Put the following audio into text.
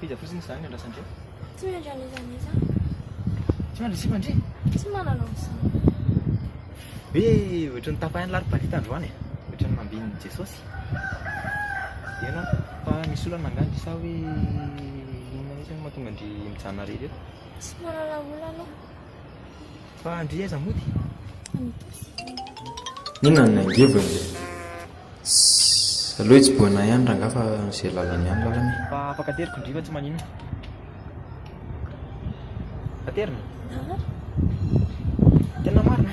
Iza fotsiny izy zany andrasandria? Tsy mendry an'iza n'iza. Tsy mandry sipa ndry? Tsy manana an'izany. Be ohatran'ny tapahin'ny laribarita androany e. Ohatran'ny mambin'ny Jesosy. Ena fa misy olana angaha ndry sa hoe inona mihitsy no mahatonga ndry mijanona irery eto? Tsy manana olana aho. Fa ndry aiza mody? Inona no niangiviny? Ssss aleo hitsibohana ihany rangah fa izay lalany ihany lalana e. Fa afaka ateriko ndry fa tsy maninona. Aterina? Tena marina?